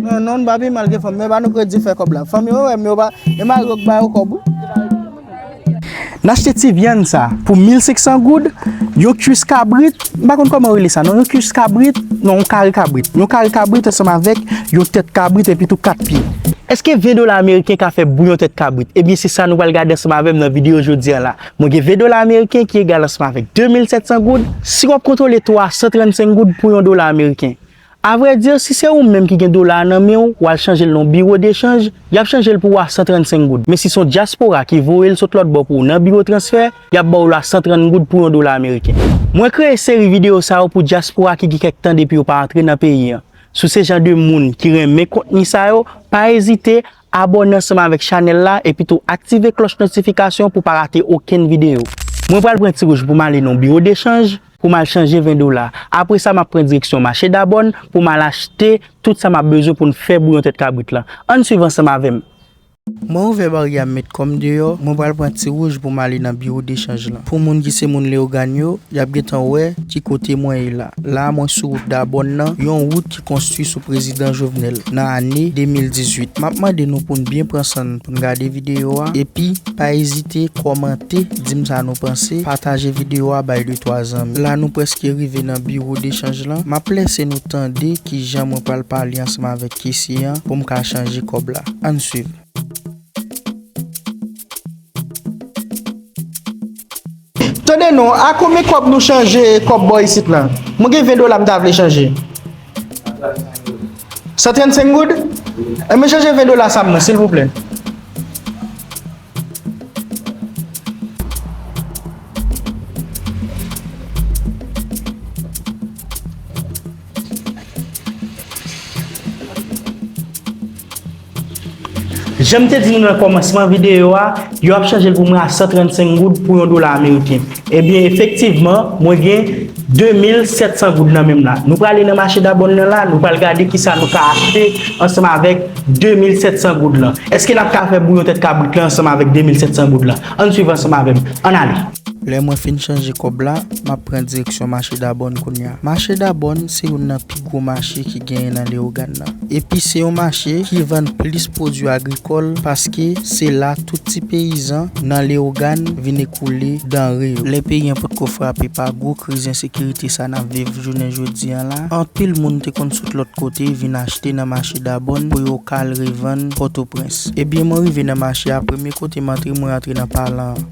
Non non nou pa pi mal ke fanm men ba nou kredi fè kòb la fanm yo wè m yo pa e mari yo k ba yo kòb wi. N achte ti vyann sa pou 1500 goud, yon kuis kabrit, m pa konn kòman yo rele sa non, yon kuis kabrit, non yon kare kabrit, yon kare kabrit ansanm avèk yon tèt kabrit epi tou 4 pye. Eske 20 dola ameriken ka fè bouyon tèt kabrit? Ebyen se sa nou pral gade ansanm avè m nan videyo jodi an la. Mwen gen 20 dola ameriken ki egal ansanm avèk 2700 goud. Si w ap kontwole 335 goud pou yon dola ameriken, A vrai dire si se ou menm ki gen dola a nan men ou, wal chanje l nan yon biro de chanj, yap chanje l pou ou a 135 goud, men si son diaspora ki voye l sot lòt bò pou ou nan biro transfè, yap ba w l a 130 goud pou yon dola ameriken. Mwen kreye seri video sa yo pou diaspora ki gen kèk tan depi yo pa antre nan peyi an. Si w se jan de moun ki renmen kontni sa yo, pa ezite Abòne ansanm avèk chanèl la epi tou aktive klòch notifikasyon pou pa rate okenn videyo. Mwen pral pran ti wout pou m ale nan yon biwo dechanj pou m al chanje 20 dola. Apre sa m ap pran direksyon mache Dabòn pou m al achte tout sa m ap bezwen pou n fè bouyon tèt kabrit lan. Ann swiv ansanm avè m! Mwen ouvè baryè a m met kò m deyò, mwen pral pran ti wout pou m ale nan biwo dechanj lan. Pou moun ki se moun Leyogàn yo, y ap gentan wè ki kote mwen ye la. La a mwen sou wout Dabòn nan, yon wout. konstwi sou prezidan Jovenel nan ane 2018. M ap mande nou pou n byen pran san n pou n gade videyo a epi pa ezite kòmante, di m sa nou panse, pataje videyo a bay de twa zanmi. La nou prèske rive nan biwo dechanj lan. M ap lèse nou tande ki jan mwen pral pale ansanm avèk kesye an pou m ka chanje kòb la. An n swiv. Tande non, a konbyen kòb nou chanje kòb bò isit la? Mwen gen 20 dola m ta vle chanje. 135 goud? 135 goud? Enben chanje 20 dola sa pou mwen silvouplè. Jan m te di nou nan kòmansman videyo a, yo ap chanje l pou mwen a 135 goud pou yon dola ameriken. Ebyen, efektivman, mwen gen 2700 goud nan menm la. Nou prale nan mache Dabòn nan la, nou pral gade ki sa nou ka achte ansanm avèk 2700 goud lan. Eske n ap ka fè bouyon tèt kabrit lan ansanm avèk 2700 goud lan? Ann swiv ansanm avè m. Ann ale! Lè mwen fin chanje kòb la, m ap pran direksyon mache Dabòn kounye a. Mache Dabòn se youn nan pi gwo mache ki genyen nan Lewogàn nan. Epi se yon mache ki vann plis pwodui agrikòl paske se la tout ti peyizan nan Lewogàn vin ekoule danre yo. Lè peyi an potko frape pa gwo kriz ensekirite sa n ap viv jounen jodi an la, anpil moun te konn sot lòt kote vin achte nan mache Dabòn pou yo ka al revann Pòtoprens. Ebyen mwen rive nan mache a, premye kote m antre mwen antre nan palan an.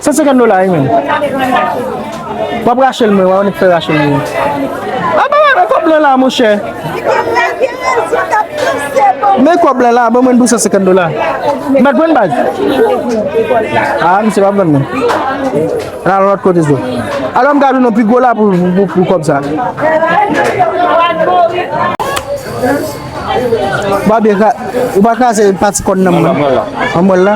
San senkann dola wi menm. Wap rachel mwen wè ou nik fè rachel mwen. A ba mwen kob lan la monchè. Men kob lan la ban mwen pou san senkann dola. Mwen jwenn baz. A misye pa pran mwen. Nan al lòt kote sou. Alò m ka jwenn yon pi gwo la pou kob sa. Babye, ou pa kraze pati kòn nan mwen. An mwen la.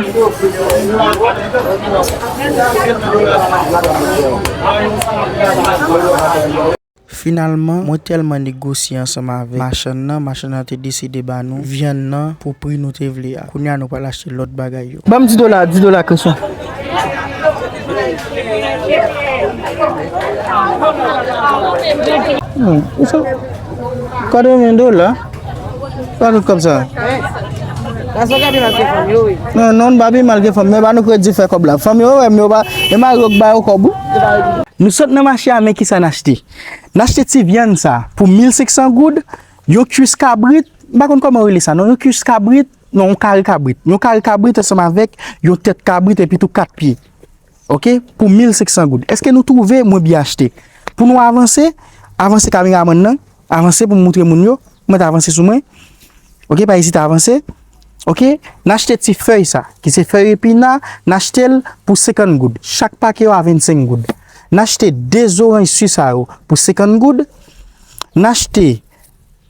Finalman, mwen tèlman negosye ansanm avèk machann nan, machann nan te deside ba nou vyann nan pou pri nou te vle a. Kounye a nou pral achte lòt bagay yo. Banm 10 dola 10 dola Christian. Nan ou fè 80 dola pa tout kòb sa. Nan non nou pa pi mal ke fanm men ba nou kredi fè kòb la. Fanm yo wè m yo pa e mari yo k ba yo kòb ou. Nou sot nan mache a men kisa n achte. N achte ti vyann sa pou 1500 goud, yon kuis kabrit, m pa konn kòman yo rele sa non, yon kuis kabrit, Non, yon kare kabrit. Yon kare kabrit ansanm avèk yon tèt kabrit epi tou 4 pye. Ok, pou 1500 goud. Eske nou twouve mwen byen achte? Pou nou avanse, avanse kameramann nan, avanse pou moutre moun yo, mèt avanse sou mwen. Ok, pa ezite avanse. Ok, n achte ti fèy sa, ki se fèy epina, n achte l pou 50 goud. Chak pake yo a 25 goud. N achte 2 zoranj si sa yo pou 50 goud. N achte.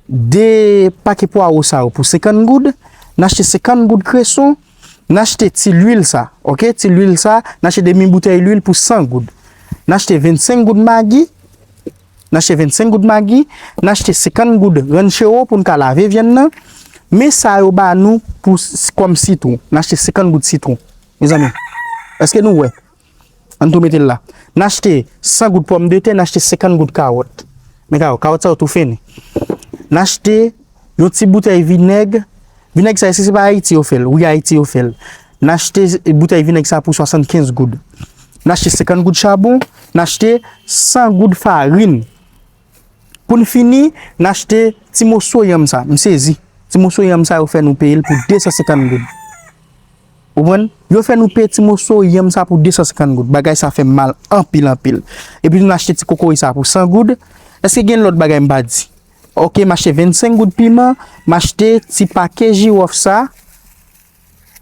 De pake pwaro sa yo pou 50 goud, n achte 50 goud kreson, n achte ti lwil sa, ok, ti lwil sa, n achte demi boutèy lwil pou 100 goud, n achte 25 goud magi, n achte 25 goud magi, n achte 50 goud ranchero pou n ka lave vyann nan, men sa yo ba nou pou kòm sitwon, n achte 50 goud sitwon, mezanmi, èske nou wè? An n tou mete l la. N achte 100 goud pòmdetè, n achte 50 goud kawòt. Men kawòt, kawòt sa yo tou fini. N achte yon ti boutèy vinèg. Vinèg sa, èske se pa Ayiti yo fè l? Wi, Ayiti yo fè l. N achte boutèy vinèg sa pou 75 goud. N achte 50 goud chabon. N achte 100 goud farin. Pou n fini, n achte ti moso yanm sa. M sezi. Ti moso yanm sa yo fè nou peye l pou 250 goud. Ou konprann? Yo fè nou peye ti moso yanm sa pou 250 goud. Bagay sa fè m mal anpil anpil. Epi tou n achte ti kokoye sa pou 100 goud. Eske gen lòt bagay m pa di? Ok, m achte 25 goud piman. M achte ti pake jiwòf sa.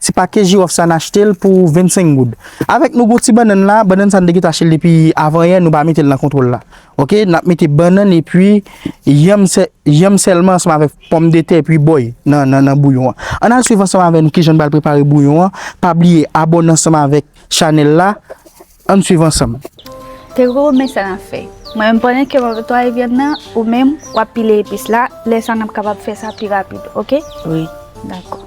Se pa ke jirof sa n achte l pou 25 goud. Avèk nou gon ti bannann la, bannann sa n te gentan achte l depi avan yè, nou pa mete l nan kontwòl la. Ok, n ap mete bannann epi yanm sè, yanm sèlman ansanm avèk pòmdetè epi bòy nan, nan, nan bouyon an. Ann al swiv ansanm avè nou kijan n pral prepare bouyon an. Pa bliye abòne ansanm avèk chanèl la. Ann swiv ansanm. Te koko men sa nap fè. Mwen menm pandan ke map netwaye vyann nan ou menm wap pile epis la lè sa nap kapab fè sa pi rapid ok. Wi. Dakò.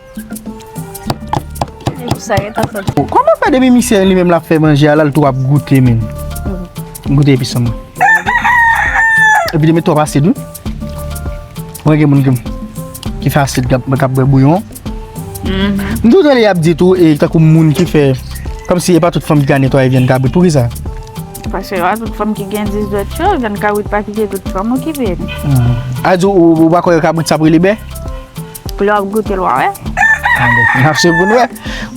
Koman fè depi misye li menm lap fè manje a lal tou ap goute menm. Goute epi san. Epi li met twòp asid wi. Mwen gen moun ki fè asid kap bwè bouyon. M toujou tande yap di tou e tankou moun ki fè kòm si e pa tout fanm ki ka netwaye vyann kabrit poukisa? Paske e pa tout fanm ki gen 10 dwèt yo, vyann kabrit pa kite tout fanm okipe li. A di ou pa kwè kabrit sa ap rele bè? Lè wap goute l wa wè. Nap swiv pou n wè.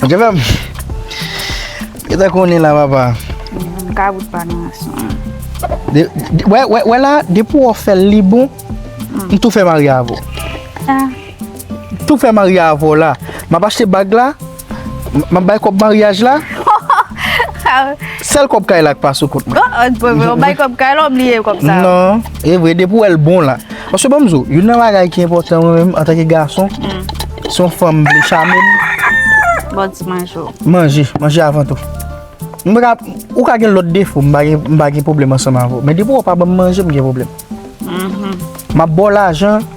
Bon dye fèm. Yo ta konnen la papa. Mwen ka goute pa nan asan. Wè wè wè la depi wap fè li bon. M tou fè marye avè w. Tou fè marye avè w la. Map achte bag la. Map bay kob maryaj la. Sel kob kay la ki pa sou kont mwen. Ou bay kob kay la ou bliye kob sa. Non, e vre depi ou el bon la. Paske banm zo, youn nan bagay ki enpotan mwen menm antake gason, si yon fanm vle chame m. Bon ti manje ou. Manje, manje avan tou. Ou ka gen lot defo, m pa gen problem ansanm avèw. Men depi ou pa banm manje m gen problem. Map baw lajan.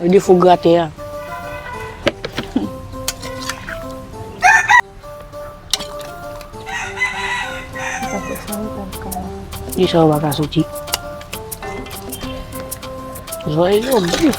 Ou di fou grate a. Di sa ou baka soti. Zwa e yo bif.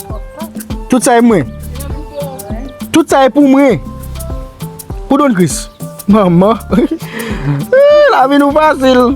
Tout sa e mwen. Tout sa e pou mwen. Pou don kris. Manman. La vi nou fasil.